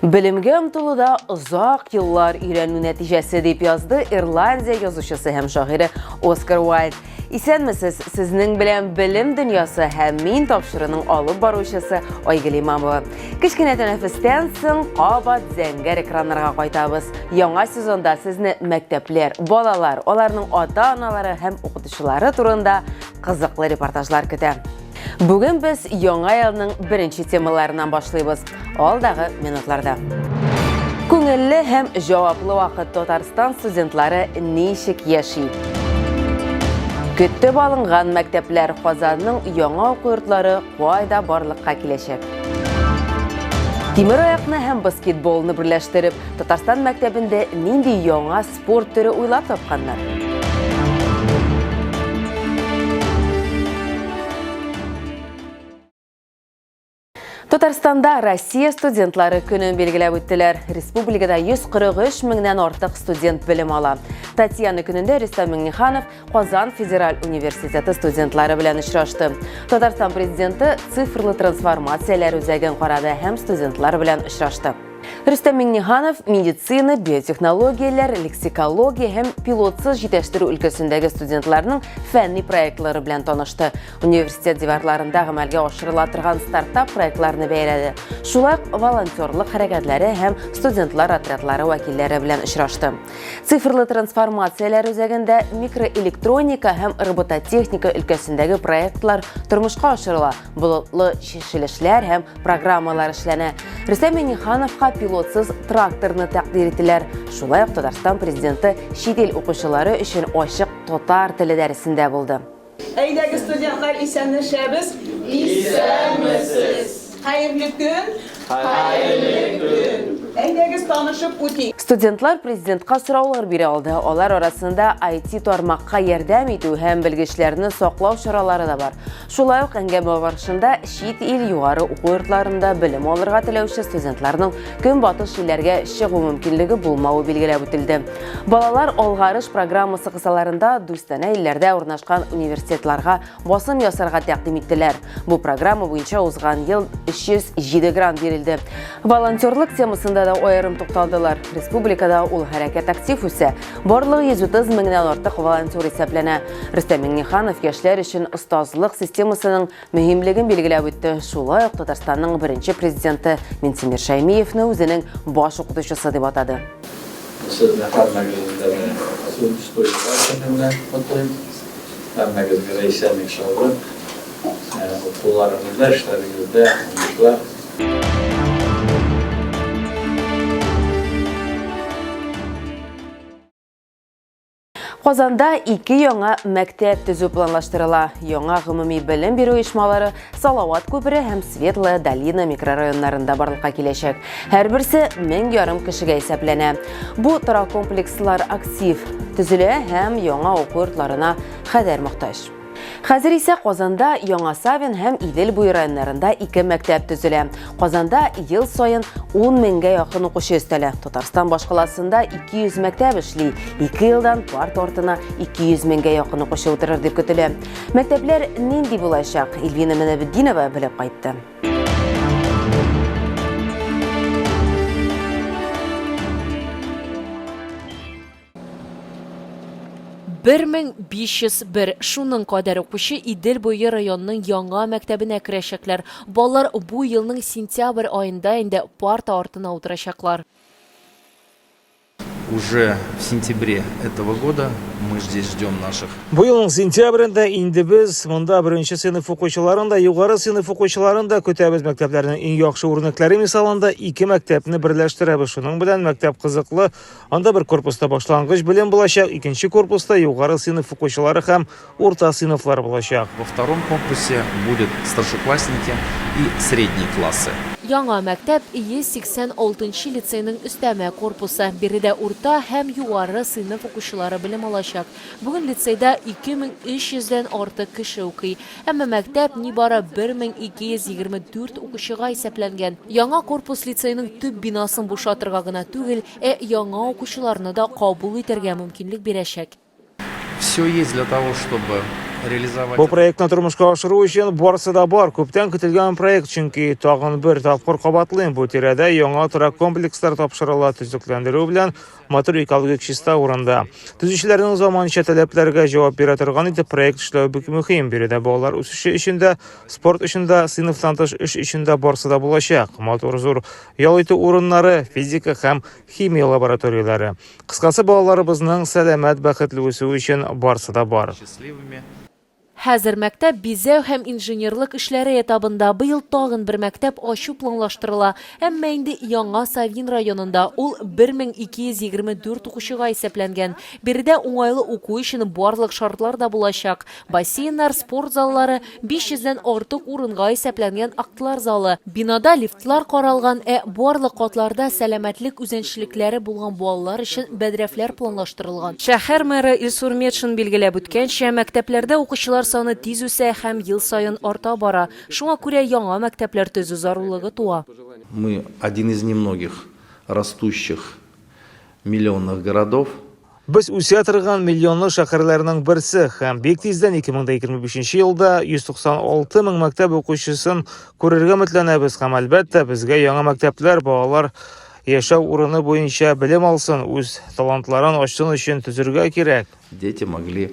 Белемгә омтылуда озак еллар өйрәнү нәтиҗәсе дип язды Ирландия язучысы һәм шагыйре Оскар Уайльд. Исәнмесез, сезнең белән белем дөньясы һәм мин тапшыруның алып баручысы Айгөл Имамова. Кечкенә тәнәфестән соң кабат зәңгәр экраннарга кайтабыз. Яңа сезонда сезне мәктәпләр, балалар, аларның ата-аналары һәм укытучылары турында кызыклы репортажлар көтә. Бүген без яңа елның беренче темаларыннан башлыйбыз. алдагы минутларда. Күңелле һәм җаваплы вакыт Татарстан студентлары ничек яши? Көттеп алынган мәктәпләр Казанның яңа уку йортлары кайда барлыкка киләчәк? Тимер аякны һәм баскетболны берләштереп, Татарстан мәктәбендә нинди яңа спорт төре уйлап тапканнар? Татарстанда Россия студентлары көнен билгеләп үттеләр. Республикада 143 меңнән артык студент белем ала. Татьяна көнендә Рөстәм Миңнеханов Казан федераль университеты студентлары белән очрашты. Татарстан президенты цифрлы трансформацияләр үзәген карады һәм студентлар белән очрашты. Рөстәм Миңнеханов медицина, биотехнологияләр, лексикология һәм пилотсыз җитәштерү өлкәсендәге студентларның фәнни проектлары белән танышты. Университет диварларында гамәлгә ашырыла торган стартап проектларны бәяләде. Шулай ук волонтерлык хәрәкәтләре һәм студентлар отрядлары вәкилләре белән очрашты. Цифрлы трансформацияләр үзәгендә микроэлектроника һәм робототехника өлкәсендәге проектлар тормышка ашырыла, болытлы чишелешләр һәм программалар эшләнә. Рөстәм Минихановка пилотсыз тракторны тәкъдир ителәр. Шулай ук Татарстан президенты чит ил укучылары өчен ачык татар теле дәресендә булды. Әйдәгез студентлар исәнләшәбез. Исәнмесез! Хәерле көн! Хәерле көн! Әйдәгез танышып үтик. Студентлар президентка сораулар бирә алды. Алар арасында IT тармакка ярдәм итү һәм белгечләрне саклау чаралары да бар. Шулай ук әңгәмә барышында чит ил югары уку йортларында белем алырга теләүче студентларның көнбатыш җилләргә чыгу мөмкинлеге булмавы билгеләп үтелде. Балалар алгарыш программасы кысаларында дустанә илләрдә урнашкан университетларга басым ясарга тәкъдим иттеләр. Бу программа буенча узган ел 307 грант бирелде. Волонтерлык темасында да аерым тукталдылар. Республикада ул хәрәкәт актив үсә. Барлыгы 130 меңнән артык волонтер исәпләнә. Рөстәм Миңнеханов яшьләр өчен остазлык системасының мөһимлеген билгеләп үтте. Шулай ук Татарстанның беренче президенты Минтимер Шәймиевне үзенең баш укытучысы дип атады. Сезне һәммәгезне дә Сүз куюлар көне белән котлыйм. Һәммәгезгә дә исәнлек-саулык, укуларыгызда, эшләрегездә уңышлар. Казанда ике яңа мәктәп төзү планлаштырыла. Яңа гомуми белем бирү оешмалары Салават күпере һәм Светлая долина микрорайоннарында барлыкка киләчәк. Һәрберсе 1000 ярым кешегә исәпләнә. Бу торак комплекслар актив төзелә һәм яңа уку йортларына хәдәр мохтаҗ. Хәзер исә Казанда, Яңа Савин һәм Идел буе районнарында ике мәктәп төзелә. Казанда ел саен 10 меңгә якын укучы өстәлә. Татарстан башкаласында 200 мәктәп эшли. Ике елдан парт артына 200 меңгә якын укучы утырыр дип көтелә. Мәктәпләр нинди булачак? Ильвина Менәбетдинова белеп кайтты. 1501 шуның кадәр укучы Идел буе районының яңа мәктәбенә керәчәкләр. Балалар бу елның сентябрь аенда инде парта артына утырачаклар. Уже в сентябре этого года мы здесь ждем наших. Бу елның сентябрендә инде без монда беренче сыйныф укучыларын да, югары сыйныф укучыларын да көтәбез. Мәктәпләрнең иң яхшы үрнәкләре мисалында ике мәктәпне берләштерәбез. Шуның белән мәктәп кызыклы, Анда бер корпуста башлангыч белем булачак, икенче корпуста югары сыйныф укучылары һәм урта сыйныфлар булачак. Во втором корпусе будут старшеклассники и средние классы. Яңа мәктәп, 186 нчы лицейның өстәмә корпусы. Биредә урта һәм югары сыйныф укучылары белем алачак. Бүген лицейда 2300 дән артык кеше укый. Әмма мәктәп нибары 1224 укучыга исәпләнгән. Яңа корпус лицейның төп бинасын бушатырга гына түгел, ә яңа укучыларны да кабул итәргә мөмкинлек бирәчәк. Все есть для того, чтобы реализовать. Бу проектны тормышка ашыру өчен барысы да бар. Күптән көтелгән проект, чөнки, тагын бер тапкыр кабатлыйм, бу тирәдә яңа торак комплекслар тапшырыла, төзекләндерү белән матур экологик чиста урында. Төзүчеләрнең заманча таләпләргә җавап бирә торган итеп проект эшләү бик мөһим. Биредә балалар үсеше өчен дә, спорт өчен дә, сыйныфтан тыш эш өчен дә барсы да булачак. Матур зур ял итү урыннары, физика һәм химия лабораторияләре. Кыскасы, балаларыбызның сәламәт, бәхетле үсүе өчен барсы да бар. Хәзер мәктәп бизәү һәм инженерлык эшләре этабында, быел тагын бер мәктәп ачу планлаштырыла, әмма инде Яңа Савин районында, ул 1224 укучыга исәпләнгән. Биредә уңайлы уку өчен барлык шартлар да булачак, бассейннар, спорт заллары, 500 дән артык урынга исәпләнгән актлар залы, Бинада лифтлар каралган, ә барлык катларда сәламәтлек үзенчелекләре булган балалар өчен бәдрәфләр планлаштырылган. Шәһәр мэры Илсур Метшин билгеләп үткәнчә, мәктәпләрдә укучылар саны тиз үсә һәм ел саен арта бара, шуңа күрә яңа мәктәпләр төзү зарурлыгы туа. Мы, один из немногих растущих миллионных городов, Без үсә торган миллионлы шәһәрләрнең берсе һәм бик тиздән 2025 елда 196 мең мәктәп укучысын күрергә өметләнәбез һәм әлбәттә безгә яңа мәктәпләр балалар яшәү урыны буенча белем алсын, үз талантларын ачсын өчен төзергә кирәк. Дети могли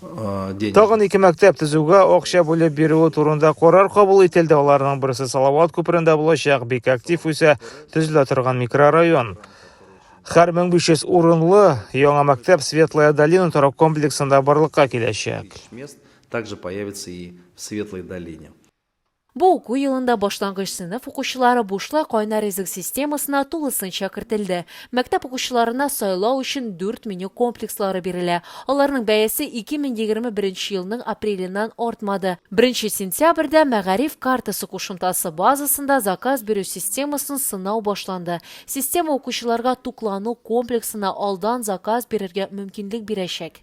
денег. Тагын ике мәктәп төзүгә акча бүлеп бирүе турында карар кабул ителде. Аларның берсе Салават күперендә булачак, бик актив үсә, төзелә торган микрорайон. Хәр 1500 урынлы яңа мәктәп Светлая долина торак комплексында барлыкка киләчәк. Также появится и в Светлой долине. Бу уку елында башлангыч сыйныф укучылары бушлай кайнар ризык системасына тулысынча кертелде. Мәктәп укучыларына сайлау өчен дүрт меню комплекслары бирелә. Аларның бәясе 2021 нче елның апреленнән артмады. Беренче сентябрьдә Мәгариф картасы кушымтасы базасында заказ бирү системасын сынау башланды. Система укучыларга туклану комплексына алдан заказ бирергә мөмкинлек бирәчәк.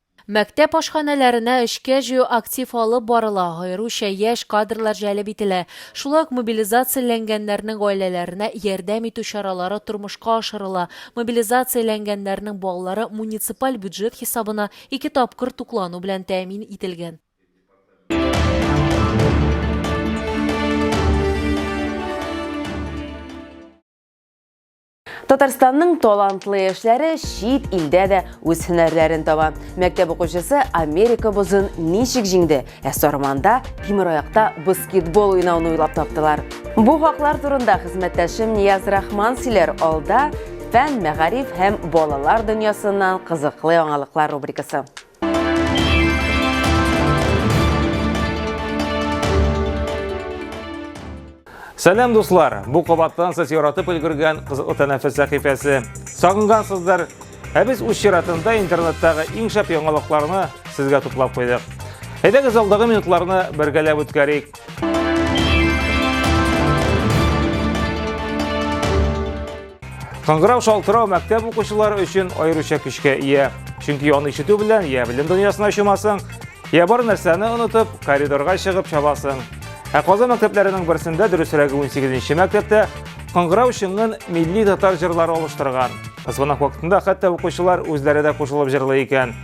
Мәктәп ашханәләренә эшкә җыю актив алып барыла, аеруча яшь кадрлар җәлеп ителә. Шулай ук мобилизацияләнгәннәрнең гаиләләренә ярдәм итү чаралары тормышка ашырыла, мобилизацияләнгәннәрнең балалары муниципаль бюджет хисабына ике тапкыр туклану белән тәэмин ителгән. Татарстанның талантлы яшьләре чит илдә дә үз һөнәрләрен таба. Мәктәп укучысы Америка бозын ничек җиңде, ә Сарманда тимер аякта баскетбол уйнауны уйлап таптылар. Бу хаклар турында хезмәттәшем Нияз Рахман сөйләр алда фән, мәгариф һәм балалар дөньясыннан кызыклы яңалыклар рубрикасы. Сәлам дуслар! Бу кабаттан сез яратып өлгергән кызыклы тәнәфес сәхифәсе. Сагынгансыздыр. Ә без үз чиратында интернеттагы иң шәп яңалыкларны сезгә туплап куйдык. Әйдәгез алдагы минутларны бергәләп үткәрик. Кыңгырау шалтырау мәктәп укучылары өчен аеруча көчкә ия. Чөнки аны ишетү белән я белем дөньясына чумасың, я бар нәрсәне онытып, коридорга чыгып чабасың. Ә Казан мәктәпләренең берсендә, дөресрәге 18-нче мәктәптә, кыңгырау шыңын милли татар җырлары алыштырган. Звонок вакытында хәтта укучылар үзләре дә кушылып җырлый икән.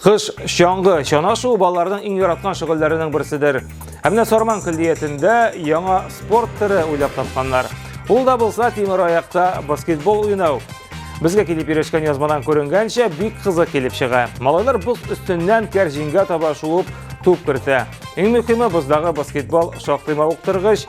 Кыш чаңгы чанашуы балаларның иң яраткан шөгыльләренең берседер. Ә менә Сарман көллиятендә яңа спорт төре уйлап тапканнар. Ул да булса тимер аякта баскетбол уйнау. Безгә килеп ирешкән язмадан күренгәнчә бик кызык килеп чыга. Малайлар боз өстеннән кәр җиңгә таба шуып туп кертә. Иң мөһиме боздагы баскетбол шактый мавыктыргыч.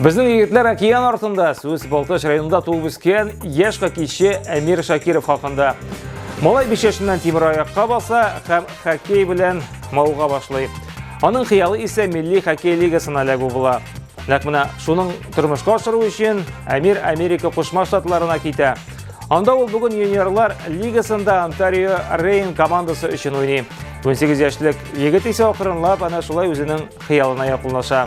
Безнең егетләр океан артында сүз Балтач районында туып үскән яшь хоккейчы Әмир Шакиров хакында. Малай биш яшеннән тимер аякка баса һәм хоккей белән мауга башлый. Аның хыялы исә милли хоккей лигасына эләгү була. Нәкъ менә шуның тормышка ашыру өчен Әмир Америка Кушма Штатларына китә. Анда ул бүген юниорлар лигасында Онтарио Рейн командасы өчен уйный. 18 яшьлек егет исә акрынлап ана шулай үзенең хыялына якынлаша.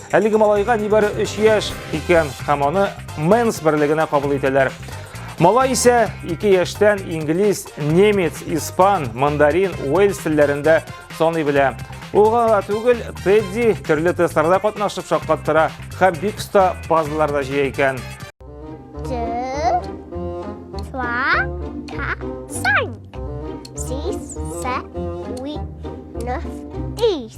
Әлеге малайга нибары 3 яшь икән һәм аны Мэнс берлегенә кабул итәләр. Малай исә 2 яшьтән инглиз, немец, испан, мандарин, уэльс телләрендә саный белә. Ул гына түгел, Тедди төрле тестларда катнашып шаккаттыра һәм бик оста пазллар да җыя икән. Six, seven, eight, nine, eight.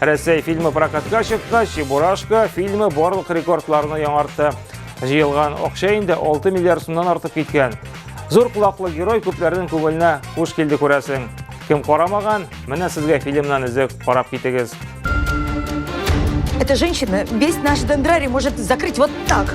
Рәсәй фильмы прокатка чыккач, Чебурашка фильмы барлык рекордларны яңартты. Җыелган акча инде 6 миллиард сумнан артып киткән. Зур кулаклы герой күпләрнең күңеленә хуш килде күрәсең. Кем карамаган, менә сезгә фильмнан өзек карап китегез. Эта женщина весь наш дендрарий может закрыть вот так.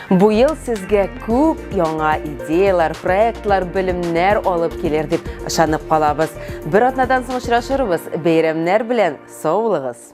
Бу ел сезгә күп яңа идеялар, проектлар, белемнәр алып килер дип ышанып калабыз. Бер атнадан соң очрашырбыз. Бәйрәмнәр белән саулыгыз!